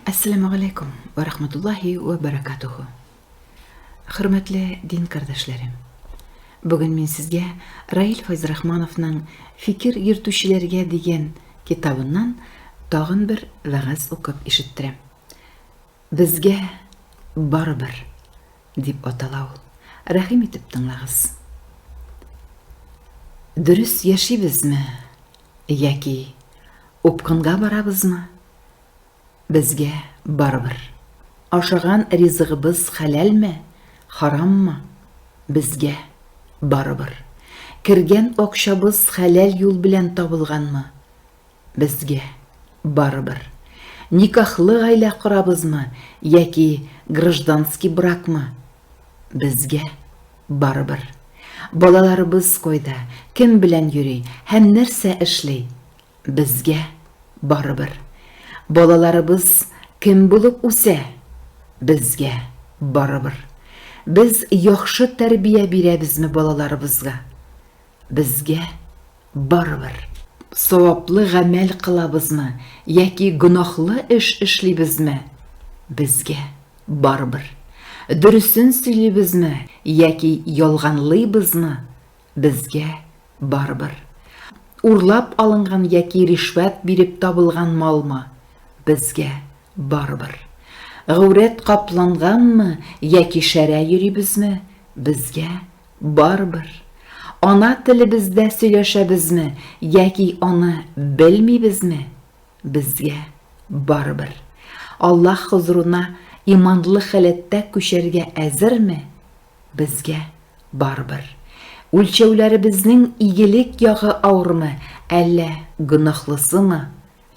Әссәламү галәйкүм вә рахматуллаһи вә бәрәкатүһү. Хөрмәтле дин кардәшләрем. Бүген мин сезгә Раил Файзрахмановның Фикер йөртүчеләргә дигән китабыннан тагын бер вәгазь укып ишеттерәм. Безгә барыбер дип атала ул. Рәхим итеп тыңлагыз. Дөрес яшибезме яки упкынга барабызмы? Безгә барыбер. Ашаган ризыгыбыз хәләлме, хараммы, безгә барыбер. Кергән акчабыз хәләл юл белән табылганмы, безгә барыбер. Никахлы гаилә корабызмы яки гражданский бракмы, безгә барыбер. Балаларыбыз кайда, кем белән йөри һәм нәрсә эшли, Безгә барыбер. Балаларыбыз кем булып үсә? Безгә барыбер. Без яхшы тәрбия бирәбезме балаларыбызга? Безгә барыбер. Саваплы гамәл кылабызмы яки гөнаһлы эш эшлибезме? Безгә барыбер. Дөресен сөйлибезме яки ялганлыйбызмы? Безгә, барыбер. Урлап алынган яки ришвәт биреп табылган малмы, безгә, барыбер. Гәүрәт капланганмы яки шәрә йөрибезме, безгә, барыбер. Ана телебездә сөйләшәбезме яки аны белмибезме, безгә, барыбер. Аллаһ хозурына иманлы халәттә күчәргә әзерме, Безгә, барыбер, үлчәүләребезнең игелек ягы авырмы, әллә гөнаһлысымы,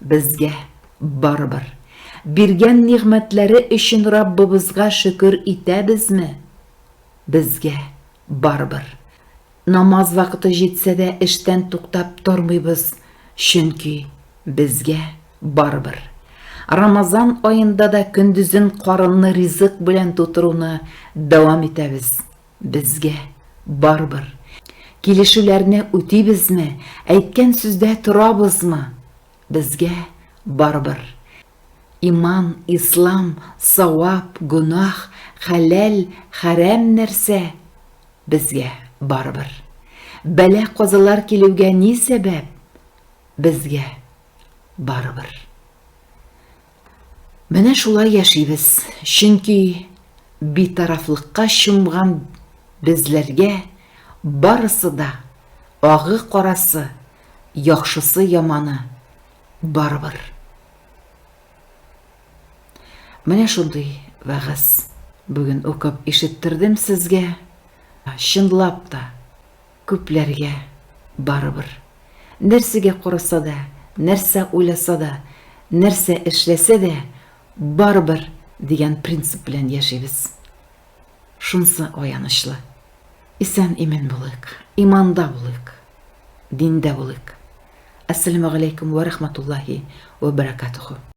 безгә, барыбер, биргән нигъмәтләре өчен Раббыбызга шөкер итәбезме, безгә, барыбер, Намаз вакыты җитсә дә эштән туктап тормыйбыз, чөнки безгә барыбер. Рамазан аенда да көндезен карынны ризык белән тутыруны дәвам итәбез. Безгә барыбер. Килешүләрне үтибезме, әйткән сүздә торабызмы? Безгә барыбер. Иман, ислам, савап, гөнаһ, хәләл, хәрәм нәрсә? Безгә барыбер. Бәла-казалар килүгә ни сәбәп? Безгә барыбер. Менә шулай яшибез, чөнки битарафлыкка чумган безләргә барысы да, агы-карасы, яхшысы-яманы, Барыбер. Менә шундый вәгазь бүген укып ишеттердем сезгә. Чынлап та күпләргә барыбер. Нәрсәгә караса да, нәрсә уйласа да, нәрсә эшләсә дә, барыбер дигән принцип белән яшибез. Шунсы аянычлы. Исән-имен булыйк, иманда булыйк, диндә булыйк. Әссәләмәгаләйкүм вә рахматуллаһи вә бәрәкатүһү.